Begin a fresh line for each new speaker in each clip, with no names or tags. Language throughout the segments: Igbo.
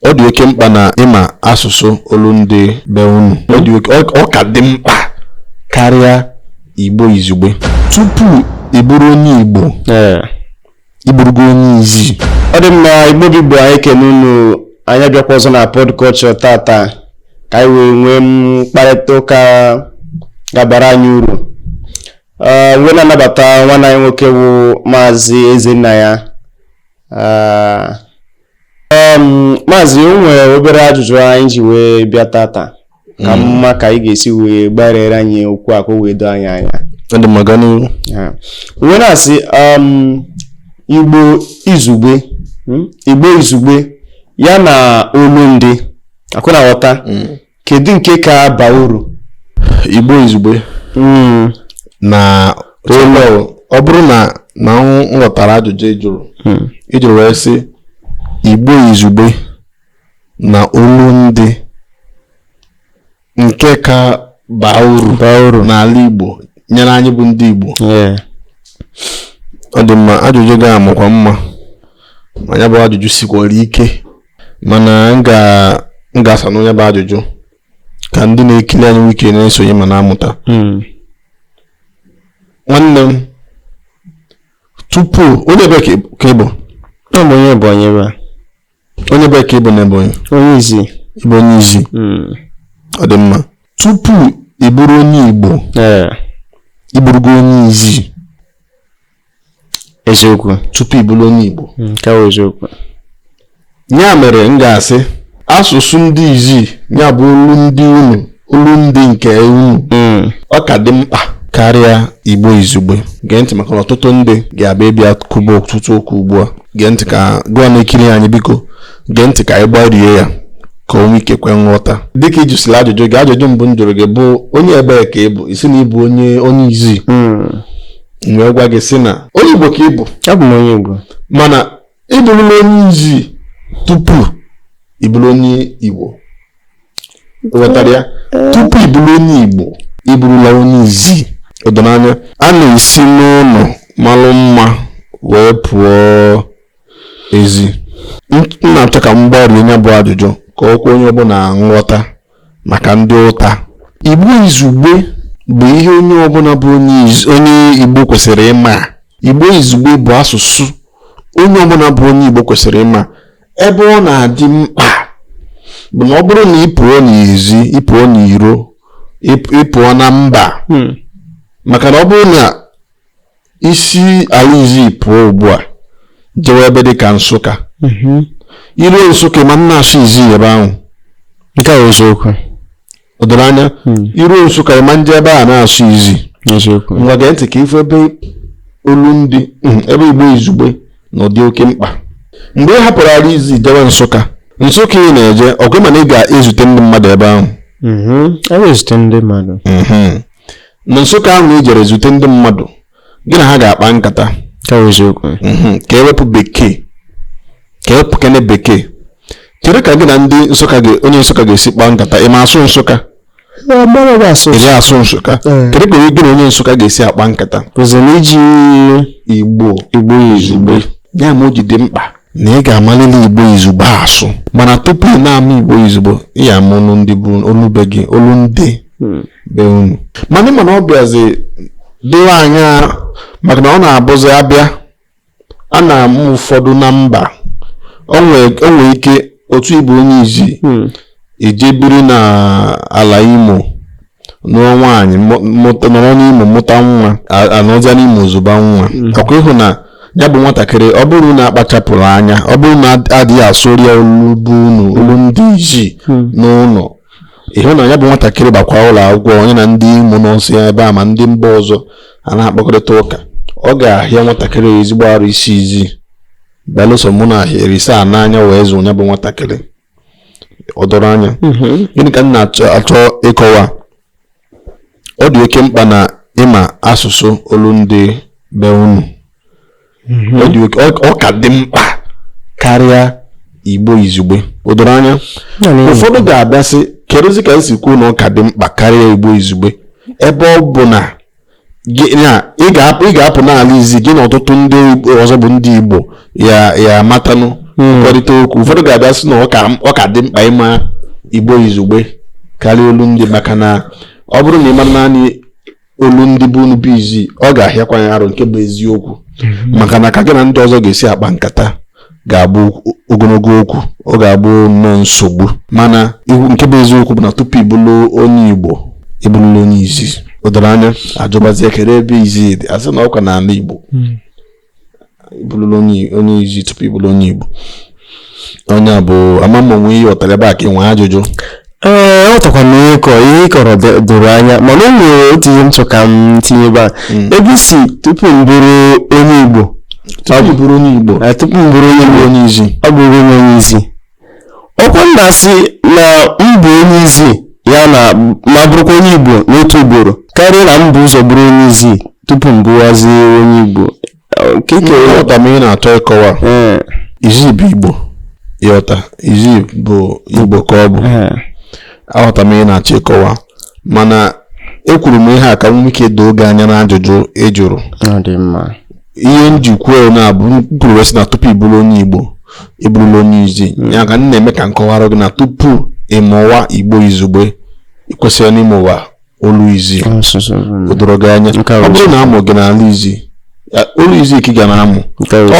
ọ dị oke mkpa na ị ma asụsụ olu ndị be unu ọ ka dị mkpa karịa igbo izugbe tupu ị bụrụ onye igbo ị bụrụgo onye izi ọ dị mma igbo
bụ igbo anyị ekene unu anyị abịakwa ọzọ na pod culture tata ka anyị wee nwee mkparịta ụka ga-abara anyị uru wee na-anabata nwanne anyị nwoke bụ maazị ezennaya maazị o nwere obere ajụjụ anyị ji wee bịa tata ka hmm. mma ka ị ga-esi wee gbariere anyị okwu a ka o wee doo anyị
anya
wee na-asị um, igbo izugbe hmm, igbo izugbe ya na olu ndị akwụna ghọta hmm. kedu nke ka baa uru
igbo izugbe hmm. na olu ọ bụrụ na m ghọtara ajụjụ ị jụrụ hmm. ị jụrụ wee sị igbo izugbe na olu ndị nke ka baa uru n'ala igbo nyere anyị bụ ndị igbo ọ dị mma ajụjụ gị a makwa mma ma ya bụ ajụjụ sikwara ike mana m ga-asanụ ya bụ ajụjụ ka ndị na-ekiri anyị nwee ike na-esonye ma na-amụta hmm. nwanne m tupu onye ebe ka ị bụ onye
Ebonyi ebe
a onye ebe ka ị bụ na Ebonyi onye
izi ị bụ onye
izi hmm. ọ dị mma tupu ị bụrụ onye Igbo ị bụrụgo onye izi
eziokwu tupu ị bụrụ onye
Igbo hmm, nke bụ eziokwu ya mere m ga-asị asụsụ ndị izi ya bụ olu ndị unu olu ndị nke unu hmm. ọ ka dị mkpa karịa Igbo izugbe gee ntị maka ọtụtụ ndị ga-abịa ebe a kwuba ọtụtụ okwu ugbu a gee ntị ka gị nwa na-ekiri anyị biko gee ntị ka anyị gbarie ya ka o nwee ike kwe nghọta dịka ị jụsịrị ajụjụ gị ajụjụ mbụ m jụrụ gị bụ onye ebee ka ị bụ ị sị na ị bụ onye onye izi hmm. m wee gwa gị sị na onye Igbo ka ị bụ abụ m onye
Igbo mana
ị bụrụla onye izi tupu ị bụrụ onye Igbo ghọtara ya tupu ị bụrụ onye Igbo ị bụrụla onye izi o do m anya a na-esi n'ụlọ malụ mma wee pụọ ezi m na-achọ ka m gbarie ya bụ ajụjụ ka o kwe onye ọbụla nghọta maka ndị ụta igbo izugbe bụ ihe onye ọbụla bụ onye igbo kwesịrị ịma igbo izugbe bụ asụsụ onye ọbụla bụ onye igbo kwesịrị ịma ebe ọ na-adị mkpa bụ na ọ bụrụ na ị pụọ n'ezi ị pụọ n'iro ị pụọ na mba hmm. maka na ọ bụrụ na i si ala izi pụọ ugbu a jewe ebe dị ka nsụka mhm. i ruo nsụka ma na-asụ izi ebe ahụ nke a
eziokwu o doro
anya hmm. i ruo nsụka ma nje ebe a na-asụ izi ngwa gee ntị ka ị fụ ebe olu ndị hmm, ebe igbo izugbe nọ dị oke mkpa mgbe ị hapụrụ ala izi jewe nsụka nsụka ị na-eje ọgụ mana ị ga-ezute ndị mmadụ ebe ahụ mhm. e
ndị mmadụ mhm.
na nsụka ahụ na i jere zute ndị mmadụ gị na ha ga-akpa nkata
mhm.
ka e wepụ bekee ka e wepụkene bekee kere ka gị na ndị nsụka onye nsụka ga-esi kpaa nkata ị ma asụ nsụka ị asụ nsụka eh. kedu ka gị na onye nsụka ga-esi akpa nkata i
ji
igbo izugbe ya mere o ji dị mkpa na ị ga-amalili igbo izugbe asụ mana tupu ị na-ama igbo izugbe ị ya-ama olu ndị bụ olu be gị olu ndị hmm. be unu mana ị ma na ọ bịazi dịwa anya maka na ọ na-abụzi a bịa a na-amụ ụfọdụ na mba o nwere ike otu ị bụ onye izi hmm. i je biri na ala imo nụọ nwaanyị nọrọ n'imo mụta nwa a nọzia n'imo zụba nwa hmm. ọ kwa ị hụ na ya bụ nwatakịrị ọ bụrụ na akpachapụghị anya ọ bụrụ na adịghị asụrụ ya olu be unu olu ndị izi hmm. n'ụlọ ị hụ na ya bụ nwatakịrị bakwa ụlọ akwụkwọ ya na ndị imo nọsịa ebe a ma ndị mba ọzọ a na-akpakọrịta ụka ọ ga-ahịa nwatakịrị ezigbo arụ ịsụ izi belụsọ ma na erisa n'anya wee zụ ya bụ nwatakịrị o doro anya mhm. gịnị ka m na-achọ ịkọwa ọ dị oke mkpa na ị ma asụsụ olu ndị be unu mhm. ọ ka dị mkpa karịa igbo izugbe o doro anya ụfọdụ ga-abịa sị kerezi ka i si kwuo na ọ ka dị mkpa karịa igbo izugbe ebe ọ bụ na ị ga-apụ n'ala izi gị na ọtụtụ ndị ọzọ bụ ndị Igbo ya matanụ hmm. nkwurịta okwu ụfọdụ ga-abịa sị na ọ ka dị mkpa ịma Igbo izugbe karịa olu ndị maka na ọ bụrụ na ị mara naanị olu ndị be unu bụ izi ọ ga-ahịakwa ya arụ nke bụ eziokwu hmm. maka na ka gị na ndị ọzọ ga-esi akpa nkata ga-abụ ogologo okwu ọ ga-abụ nnọọ nsogbu mana nke bụ eziokwu bụ na tupu ị bụrụ onye Igbo ị bụrụla onye izi o doro anya a jụbazie kere ebe izi dị a sị na ọ kwa n'ala Igbo hmm. ị bụrụla onye izi tupu ị bụrụ onye Igbo onye a bụ ama m o nwe ihe ị ghọtara ebe a ka ị nwe ajụjụ ee aghọtakwa
m ihe kọ ihe ị kọrọ dị- doro anya mana o nwere otu ihe m chọ ka m tinye ebe a ebe ị sị tupu m bụrụ onye igbo tupu ị bụrụ onye
igbo eh, tupu m bụrụ onye igbo onye izi ọ bụ
onye onye izi ọkwa m na-asị na m bụ onye izi ya na m bụrụkwa onye igbo n'otu ugboro karịa na m bu ụzọ bụrụ onye izi tupu m bụwazi onye igbo nke ike
aghọta m ihe ị na-achọ ịkọwa ee izi bụ igbo ịghọta izi bụ igbo ka ọ bụ ee aghọta m ihe ị na-achọ ịkọwa mana ekwuru m ihe a ka m nwee ike doo gị anya n'ajụjụ ị jụrụ ọ dị mma ihe m ji kwuo na-abụ m kwuru wee sị na tupu ị bụrụ onye igbo ị bụrụla onye izi ya ka m na-eme ka m kọwara gị na tupu ị mụwa igbo izugbe ị kwesịrị na ịmụwa olu izi o doro gị anya ọ bụrụ na a mụọ gị n'ala izi olu izi ka ị ga na-amụ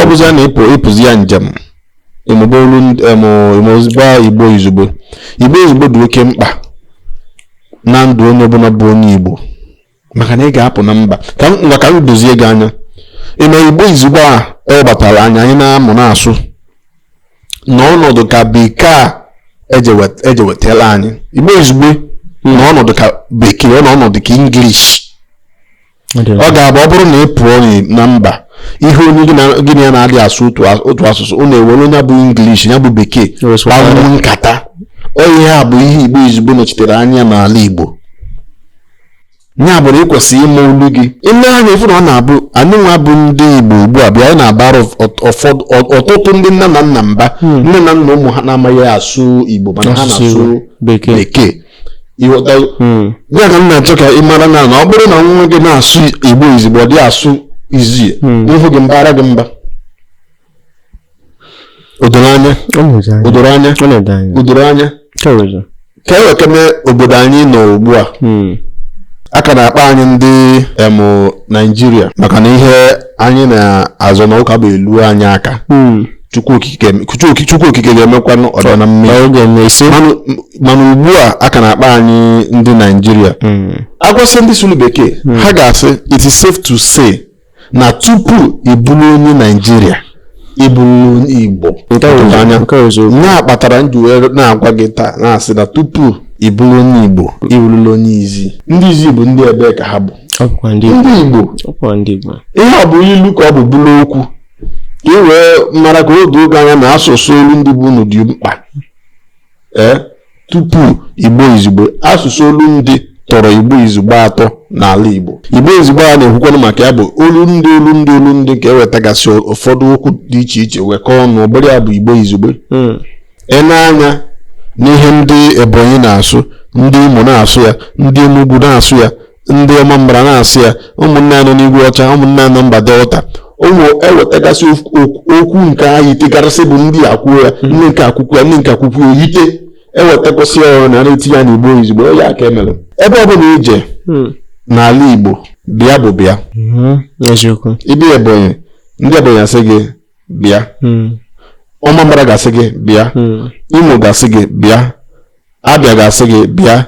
ọ bụzịa na-epụ ị pụzịa njem ịmụba olu ịmụba igbo izugbe igbo izugbe dị oke mkpa na ndụ onye ọbụla bụ onye igbo maka na ị ga-apụ na mba ka ngwa ka m dozie gị anya ị ma igbo izugbe a ọ batara anya anyị na-amụ na-asụ nọ ọnọdụ ka bekee a ejewetala anyị igbo izugbe nọ ọnọdụ ka bekee ọ nọ ọnọdụ ka English ọ ga-abụ ọ bụrụ na ị pụọ na mba ị hụ onye gị na ya na-adị asụ otu asụsụ unu ewere onye bụ English ya bụ bekee kpawa nkata ọ ihe a bụ ihe igbo izugbe nọchitere anya n'ala Igbo ya bụ na ị kwesịrị ịma olu gị i lee anya ị fụ na ọ na-abụ anyị nwa bụ ndị igbo ugbu a bịa anyị na-abara ụf- ụfọdụ ọ- ọtụtụ ndị nne na nna mba nne na nna ụmụ ha na-amaghị asụ igbo mana ha Asụsụ na-asụ Igbo, Bekee. bekee ịghọta Hmm. ya ka m na-achọ ka ị mara na na ọ bụrụ na nwa gị na-asụ igbo izugbe ọ dị asụ izi a fụ gị m bara gị mba o doro anya o doro anya o doro anya ka e wekene obodo anyị nọ ugbu a hmm. a ka na-akpọ anyị ndị em naijiria maka na ihe anyị na-azọ na ọ ka bụ elu anyị aka hmm. chukwu okike ga-emekwanụ ọ dị na mma mana ugbu a a ka na-akpọ anyị ndị naijiria hmm. agwasị ndị sụrụ bekee ha ga-asị it is safe to say na tupu ị bụrụ onye naijiria ị bụrụla onye igbo Nke a bụ- anya nke a bụ eziokwu. ya kpatara m ji wee na-agwa gị taa na-asị na tupu ị bụrụ onye igbo ị bụrụla onye izi ndị izi bụ ndị ebee ka ha bụ ọ bụkwa ndị Igbo ndị igbo ọ bụkwa ndị Igbo ihe a bụ ilu ka ọ bụ bụrụ okwu ka ị wee mara ka o doo gị anya na asụsụ olu ndị be unu dị mkpa ee tupu igbo izugbe asụsụ olu ndị tọrọ igbo izugbe atọ n'ala igbo igbo izugbe a na-ekwukwanụ maka ya bụ olu ndị olu ndị olu ndị ka e wetagasị ụfọdụ okwu dị iche iche wekọọ ọnụ ọ bụrụ ya bụ igbo izugbe hmm. i nee anya n'ihe ndị ebonyi na-asụ ndị imo na-asụ ya ndị enugwu na-asụ ya ndị ọmambara na-asụ ya ụmụnne anyị nọ n'igwe ọcha ụmụnne anyị nọ mba delta ụmụ e wetagasị okwu nke a yitegarasị bụ ndị a kwuo ya hmm. ndị nke a kwukwuo ya ndị nke a kwukwuo ya o yite e wetakọsịa ya ọnụ a na-etinye ya n'igbo izugbe ọ ya ka e mere ebe ọ bụla i je hmm. n'ala igbo bịa bụ bịa hmm. ị bịa ebonyi ndị ebonyi asị gị bịa ọmambara ga-asị gị bịa imo ga-asị gị bịa abia ga-asị gị bịa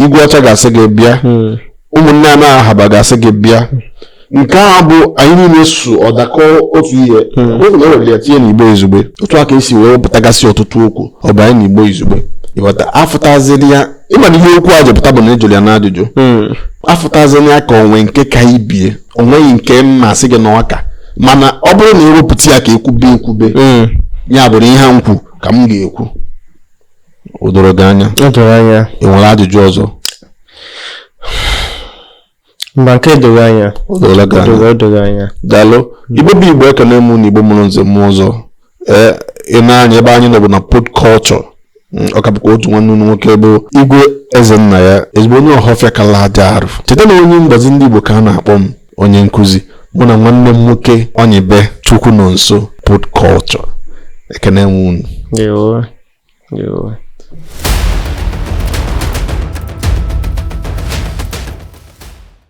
igwe ọcha ga-asị gị bịa hmm. ụmụnne anyị nọ ahaba ga-asị gị bịa nke a bụ anyị niile sụọ ọ dakọọ otu ihe hmm. oge e were ya tinye n'igbo izugbe otu a ka e si wee wepụtagasị ọtụtụ okwu webanye n'igbo izugbe ị ghọta a fụtaziri ya ị ma na ihe okwu a ji pụta bụ na a jụrụ ya n'ajụjụ hmm. a fụtaziri ya ka o nwee nke ka ibe ya o nweghị nke m ga-asị gị na ọ ka mana ọ bụrụ na e wepụta ya ka e kwube e kwube ya bụrụ ihe m kwu ka m ga-ekwu o doro gị anya o doro anya ị nwere ajụjụ
ọzọ mba nke doro anya o doro gị anya o
doro anya daalụ igbo bụ igbo ekene m unu igbo mụrụ nze mụọ ọzọ ee i nee anya ebe anyị nọ bụ na pod culture Mm, ọ ka bụkwa otu nwanne unu nwoke bụ igwe ezennaya ezigbo onye ọhọfịa kala aja arụ cheta na onye mgbazi ndị igbo ka a na-akpọ m onye nkụzi mụ na nwanne m nwoke onyibe chukwu nọ nso pod culture ekene m
unu